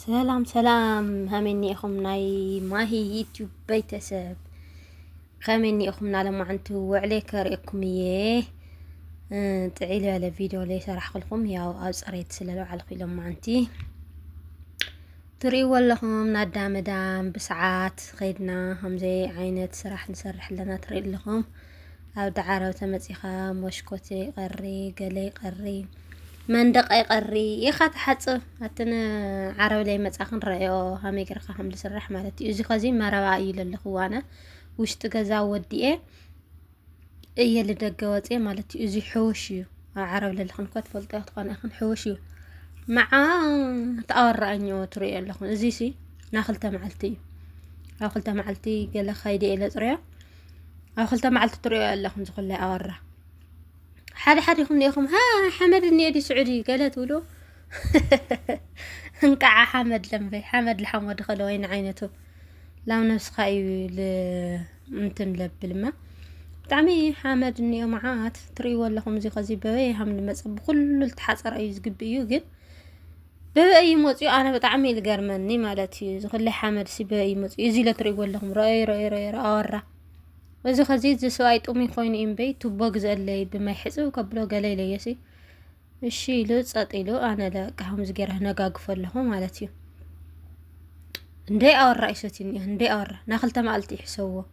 ሰላም ሰላም ሃመይ እኒኤኹም ናይ ማሂ ዩትዩብ ቤተሰብ ከመይ እኒኤኹም ናለማዓንቱ ውዕሌ ከርእየኩም እየ ጥዒል ያለ ቪድዮ ላይ ሰራሕክልኩም ያው ኣብ ፅሬት ስለለውዓልኩ ኢሎማዓንቲ ትርእይዎ ኣለኹም ናዳ መዳም ብሰዓት ኸይድና ከምዘይ ዓይነት ስራሕ ንሰርሕ ኣለና ትርኢ ኣለኹም ኣብ ዳዕሮ ተመጺኻ ሞሽኮት ይቐሪ ገለ ይቐሪ መንደቕ ይቐሪ ኢኻ ትሓጽብ ኣቲ ንዓረብ ለይ መጻ ክንረአዮ ሃመይ ገርካ ከም ዝስራሕ ማለት እዩ እዚ ከዚ መረባ እዩ ለለኹ ዋነ ውሽጢ ገዛ ወዲኤ እየ ልደገ ወፅኤ ማለት እዩ እዚ ሕውሽ እዩ ኣብ ዓረብ ለለኹን እኮ ትፈልጦ ትኾነ ይኹን ሕውሽ እዩ መዓ ተኣወራኣኝ ትርእዮ ኣለኹ እዚ ሲ ናብ ክልተ መዓልቲ እዩ ኣብ ክልተ መዓልቲ ገለ ከይደ ኢለ ፅርዮ ኣብ ክልተ መዓልቲ ትሪኦ ኣለኹም ዝኹለ ኣወራ ሓደ ሓደ ይኹም ኔኹም ሃ ሓመድ እኒኤ ዲ ስዑዲ ገለ ትብሉ እንቃዓ ሓመድ ለምበይ ሓመድ ልሓመድ ኸለ ወይን ዓይነቱ ላብ ነብስኻ እዩ እንትን ለብልማ ብጣዕሚ ሓመድ እኒኦ መዓት ትርእይዎ ኣለኹም እዚ ከዚ በበይ ሃም ልመፀ ብኩሉ ዝተሓፀረ እዩ ዝግቢ እዩ ግን ብበይ እዩ መጽዩ ኣነ ብጣዕሚ እዩ ዝገርመኒ ማለት እዩ ዝክለይ ሓመድ ሲ በይ እዩ መጽዩ እዚ ኢለ ትርእይዎ ኣለኹም ረኦይ ረኦይ ረኦይ ኣወራ እዚ ከዚ እዚ ሰብኣይ ጥሙይ ኮይኑ እዩ እምበይ ቱቦ ግዘለይ ብማይ ሕጽብ ከብሎ ገለ ኢለዮሲ እሺ ኢሉ ጸጥ ኢሉ ኣነ ለቃ ከምዚ ገይረ ነጋግፎ ኣለኹ ማለት እዩ እንደ ኣወራ እዩ ሰትዩኒ እንደ ኣወራ ናክልተ መዓልቲ ይሕሰብዎ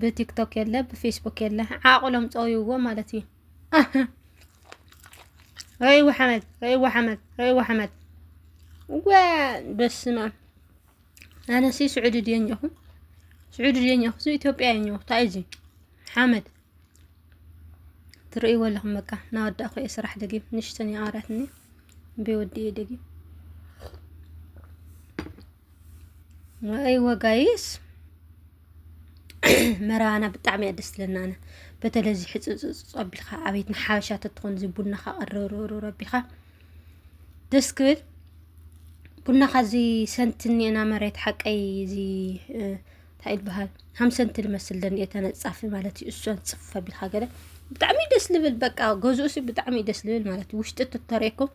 ብቲክቶክ የለ ብፌስቡክ የለ ዓቕሎም ፀውይዎ ማለት እዩ ረእይዎ ሓመድ ረእይዎ ሓመድ ረእይዎ ሓመድ ወ በስመ ኣብ ኣነሲ ስዑዲ ድየ እኒኹ ስዑዲ ድየ እኒኹ ኢትዮጵያ እየ እኒኹ እንታይ እዩ ሓመድ ትርእይዎ ኣለኹም በቃ ናወዳእኹ እየ ስራሕ ደጊም ንሽተን ይኣራትኒ ብወዲ እየ ደጊም ኣይወ ጋይስ መረባና ብጣዕሚ እያ ደስ ትብለና ኣነ በተለይ እዚ ሕፅፅፅ ኣቢልካ ኣቤት ንሓበሻ ተትኾን እዚ ቡናኻ ቅርርርር ኣቢልካ ደስ ክብል ቡናኻ እዚ ሰንቲ እኒኤና መሬት ሓቀይ እዚ እንታይ ይበሃል ሃምሰንቲ ልመስል ደኒኤ ተነፃፊ ማለት እዩ እሱን ፅፍ ኣቢልካ ገለ ብጣዕሚ ደስ ልብል በቃ ገዝኡሲ ብጣዕሚ ደስ ልብል ማለት እዩ ውሽጢ ትተረኩም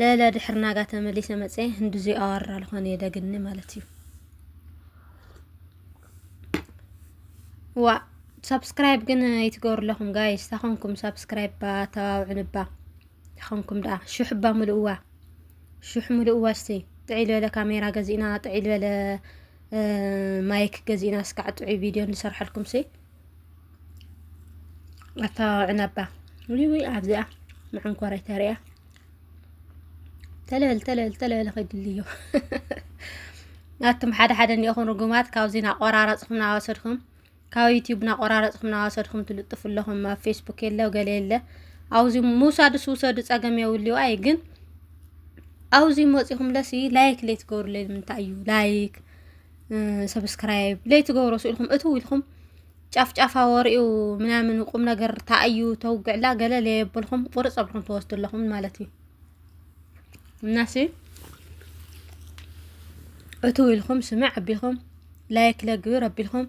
ለለ ድሕሪ ናጋ ተመሊሰ መጸ ህንዱዙይ ኣዋርር ኣልኾን የደግኒ ማለት እዩ ዋ ሳብስክራይብ ግን ይትገብሩ ኣለኹም ጋይስ ታኾንኩም ሳብስክራይብ ባ ተባብዑን እባ ታኾንኩም ደኣ ሹሕ እባ ምልእዋ ሹሕ ምልእዋ እስቲ ጥዒል በለ ካሜራ ገዚእና ጥዒል በለ ማይክ ገዚእና እስካዕ ጥዑይ ቪድዮ ንሰርሐልኩም ሲ ኣተባባዒ ነባ ውይ ውይ ኣብዚኣ መዓንኮረይ ተሪያ ተለል ተለል ተለል ኸይድሊ እዩ ናቱም ሓደ ሓደ እንዲኹም ርጉማት ካብዚ ናቆራረፅኩም ናወሰድኩም ካብ ዩቲዩብ ናቆራረፅኩም ናወሰድኩም ትልጥፉ ኣለኹም ኣብ ፌስቡክ የለ ገለ የለ ኣብዚ ምውሳድስ ውሰዱ ፀገም የብልዩ ኣይ ግን ኣብዚ መፂኹም ለሲ ላይክ ለይ ትገብሩለይ ንምንታይ እዩ ላይክ ሰብስክራይብ ለይትገብሮ ስኢልኩም እትው ኢልኩም ጫፍጫፋ ወሬኡ ምናምን ቁም ነገር ተኣዩ ተውግዕላ ገለ ለየብልኩም ቁርፅ ኣብልኩም ትወስዱ ኣለኹም ማለት እዩ እናሲ እትው ኢልኩም ስምዕ ኣቢልኩም ላይክ ለግብር ኣቢልኩም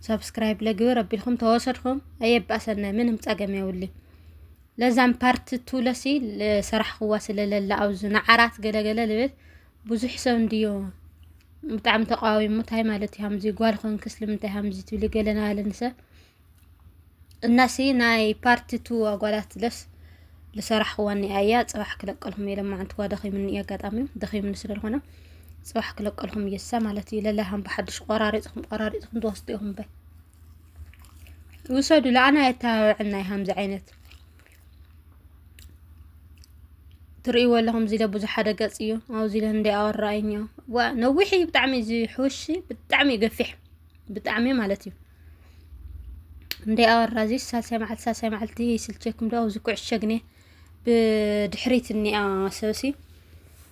ሰብስክራይብ ለግብር ኣቢልኩም ተወሰድኩም ኣየባእሰና ምንም ፀገም የውሊ ለዛም ፓርት ቱ ለሲ ሰራሕክዋ ስለለላ ኣብዚ ንዓራት ገለገለ ልብል ብዙሕ ሰብ እንድዮ ብጣዕሚ ተቃዊሙ እንታይ ማለት እዩ ከምዚ ጓል ኮንክ ስለምንታይ ከምዚ ትብሊ ገለና ኣለኒ ሰብ እናሲ ናይ ፓርቲ ቱ ኣጓላት ለስ ልሰራሕክዋ እኒኣ እያ ፅባሕ ክለቀልኩም እየ ለማዓንቲ ኳ ደኺምኒ እዩ ኣጋጣሚ ደኺምኒ ስለዝኾነ ፅባሕ ክለቀልኩም እየሳ ማለት እዩ ለላ ከም ብሓድሽ ቆራሪፅኩም ቆራሪፅኩም ትወስዱ ኢኹም በይ ውሰዱ ለኣና የተባብዐና እዩ ከምዚ ዓይነት ትርእይዎ ኣለኹም እዚ ዶ ብዙሕ ሓደ ገጽ እዩ ኣብዚ ዶ እንደ ኣወራይን እዩ ዋ ነዊሕ እዩ ብጣዕሚ እዚ ሕውሺ ብጣዕሚ እዩ ገፊሕ ብጣዕሚ ማለት እዩ እንደ ኣወራ እዚ ሳልሳይ መዓልቲ ሳልሳይ መዓልቲ ይስልቸኩም ዶ ኣብዚ ኩዕሸ ግነ ብድሕሪት እኒኣ ሰብሲ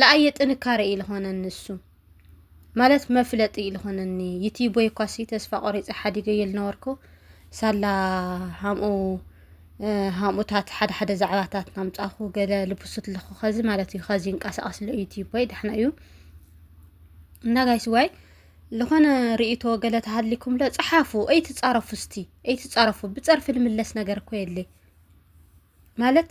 ለኣየ ጥንካረ እዩ ዝኾነኒ ንሱ ማለት መፍለጢ እዩ ዝኾነኒ ዩቲቦይ እኳሲ ተስፋ ቆሪፀ ሓዲገዮ ዝነበርኩ ሳላ ሃምኡ ሃምኡታት ሓደ ሓደ ዛዕባታት ናምፃኹ ገለ ልብሱት ኣለኹ ከዚ ማለት እዩ ከዚ ይንቀሳቐስ ኣሎ ዩቲቦይ ዳሕና እዩ እና ጋይስ ዋይ ዝኾነ ርእቶ ገለ ተሃሊኩም ለ ፀሓፉ ኣይትፃረፉ ስቲ ኣይትፃረፉ ብፀርፊ ንምለስ ነገር እኮ የለ ማለት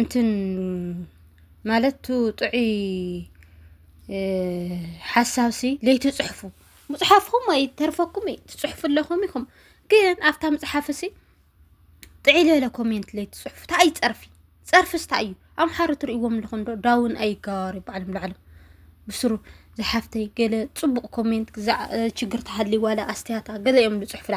እንትን ማለት ቱ ጥዑይ ሓሳብ ሲ ለይትፅሕፉ ምፅሓፍኹም ኣይተርፈኩም እዩ ትፅሕፉ ኣለኹም ኢኹም ግን ኣብታ ምፅሓፍ ሲ ጥዕይ ዝበለ ኮሜንት ለይትፅሕፉ ታይ እዩ ፀርፊ ፀርፍስ ታይ እዩ ኣምሓሩ ትሪእዎም ኣለኹም ዶ ዳውን ኣይጋባሩ ባዕሎም ባዕሎም ብስሩ ዝሓፍተይ ገለ ፅቡቕ ኮሜንት ችግር ተሃልዩ ዋላ ኣስትያየት ገለ እዮም ዝፅሕፉላ።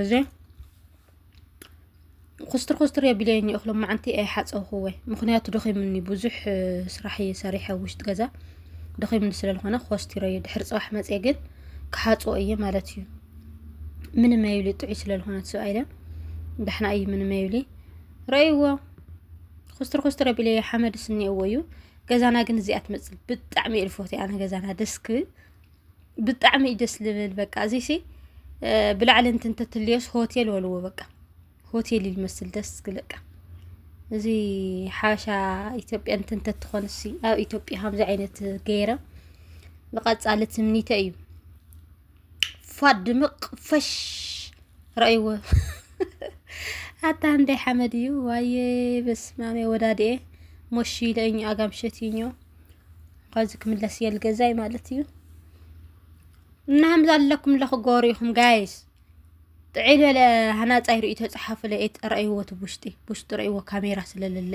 እዚ ኩስትር ኩስትር የቢለይ እኒ እኽሎም መዓንቲ እየ ሓፀውክወ ምክንያቱ ደኺምኒ ብዙሕ ስራሕ እየ ሰሪሐ ውሽጢ ገዛ ደኺምኒ ስለዝኾነ ኮስቲሮ እየ ድሕሪ ፅባሕ መፅየ ግን ክሓፅዎ እየ ማለት እዩ ምንም ኣይብሊ ጥዑይ ስለዝኾነ ሰብኣይ ለ ዳሕና እዩ ምንም ኣይብሊ ረእይዎ ኩስትር ኩስትር ኣቢለ ሓመድ ስኒ እወ እዩ ገዛና ግን እዚኣ ትመፅእ ብጣዕሚ እየ ዝፎትያ ኣነ ገዛና ደስ ክብል ብጣዕሚ እዩ ደስ ልብል በቃ እዚሲ ብላዕሊ እንት እንተትልዮስ ሆቴል ወልዎ በቃ ሆቴል እዩ ልመስል ደስ ክለቃ እዚ ሓበሻ ኢትዮጵያ እንት እንተትኾንሲ ኣብ ኢትዮጵያ ከምዚ ዓይነት ገይረ ንቐፃሊ ትምኒተ እዩ ፏድ ድምቕ ፈሽ ረእይዎ ኣታ እንደ ሓመድ እዩ ዋየ በስማሜ ወዳድኤ ሞሽ ኢለኝ ኣጋምሸት እዩኞ ኸዚ ክምለስ እየ ልገዛይ ማለት እዩ እና ከምዚ ኣለኩም ለኹ ጎሩ ኢኹም ጋይስ ጥዒ በለ ሃናፃይ ርእቶ ፀሓፉለ ረእይዎ እቲ ውሽጢ ውሽጢ ረእይዎ ካሜራ ስለለለ